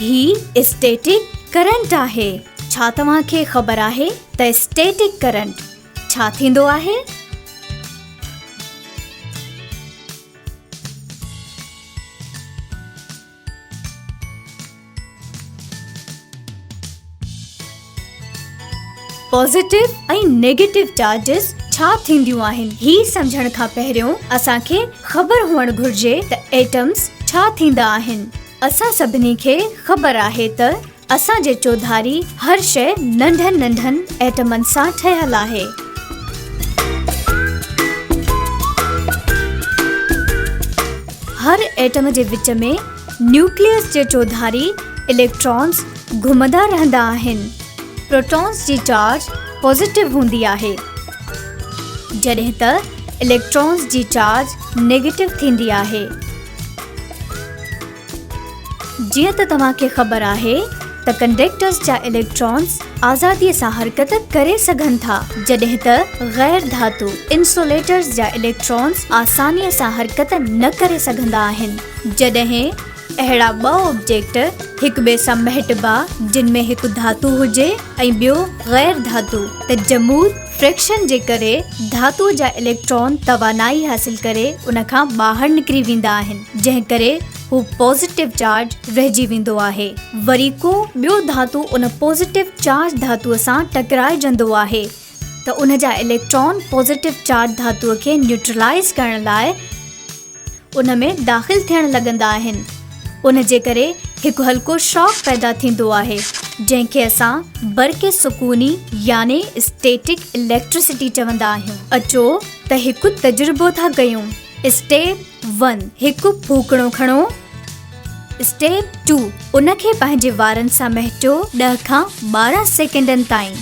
هي static current آهي. ڇا توهان کي خبر آهي ته اسٽيٽڪ ڪرنٽ ڇا ٿيندو آهي؟ پازيٽو ۽ نيگيٽو چارجز ڇا ٿينديون آهن؟ هي سمجهڻ کان پهريون اسان کي خبر هئڻ گهرجي ته ايٽمز ڇا ٿيندا آهن. اسان سڀني کي خبر آهي ته اسان جي چوڌاري هر شيء ننڍن ننڍن ايٽمن سان ٺهيل آهي. هر ايٽم جي وچ ۾ نيوڪليس جي چوڌاري اليڪٽرانز، گهمندا رهندا آهن. پروٽونز جي چارج پازيٽو هوندي آهي جڏهن ته اليڪٽرونز جي چارج نيگيٽو ٿيندي آهي. جيئن ته توهان کي خبر آهي ته ڪنڊيڪٽرز جا اليڪٽرونز آزادي سان حرڪت ڪري سگهن ٿا جڏهن ته غير ڌاتو انسوليٽرز جا اليڪٽرونز آساني سان حرڪت نه ڪري سگهندا آهن جڏهن اهڙا ٻه آبجيڪٽ هڪٻئي سان مهٽبا جن ۾ هڪ ڌاتو هجي ۽ ٻيو غير ڌاتو ته جمود، Friction، جي ڪري ڌاتو جا اليڪٽران توانائي حاصل ڪري ان کان ٻاهر نڪري ويندا آهن جنهن ڪري هو پازيٽو چارج رهجي ويندو آهي وري ڪو ٻيو ڌاتو ان پازيٽو چارج ڌاتو سان ٽڪرائجندو آهي ته ان جا اليڪٽران پازيٽو چارج ڌاتوء کي نيوٽرلائيز ڪرڻ لاء ان ۾ داخل ٿيڻ لڳندا آهن. ان جي ڪري هڪ هلڪو شاڪ پيدا ٿيندو آهي، جنهن کي اسان برق سڪوني يعني اسٽيٽڪ اليڪٽرسٽي چوندا آهيون. اچو ته هڪ تجربو ٿا ڪيون، اسٽيپ ون، هڪ ڦوڪڻو کڻو. اسٽيپ ٽو، ان کي پنهنجي وارن سان مهٽيو ڏهه کان ٻارهن سيڪنڊن تائين.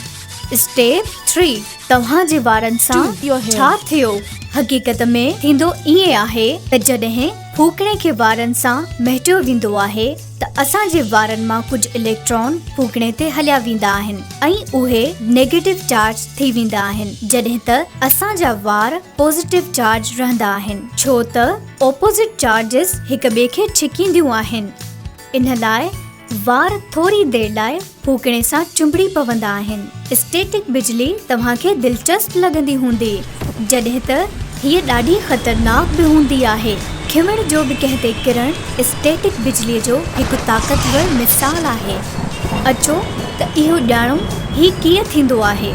اسٽيپ ٿري، توهان جي وارن سان ڇا ٿيو؟ حقيقت ۾ ٿيندو ائين آهي ته جڏهن ڦوڪڻي کي وارن سان مهٽيو ويندو آهي ته اسان جي وارن مان ڪجهه اليڪٽران ڦوڪڻي تي هليا ويندا آهن ۽ اهي نيگيٽو چارج ٿي ويندا آهن جڏهن ته اسان جا وار پازيٽو چارج رهندا آهن ڇو ته اپوزٽ چارجز هڪ ٻئي کي ڇڪينديون آهن، ان لاء وار ٿوري دير لاء ڦوڪڻي سان چنبڙي پوندا آهن. اسٽيٽڪ بجلي توهان کي دلچسپ لڳندي هوندي، جڏهن ته هيء ڏاڍي خطرناڪ به هوندي آهي. کمڻ جو به ڪنهن تي ڪرڻ اسٽيٽڪ بجلي جو هڪ طاقتور مثال آهي. اچو ته اهو ڄاڻون هي ڪيئن ٿيندو آهي.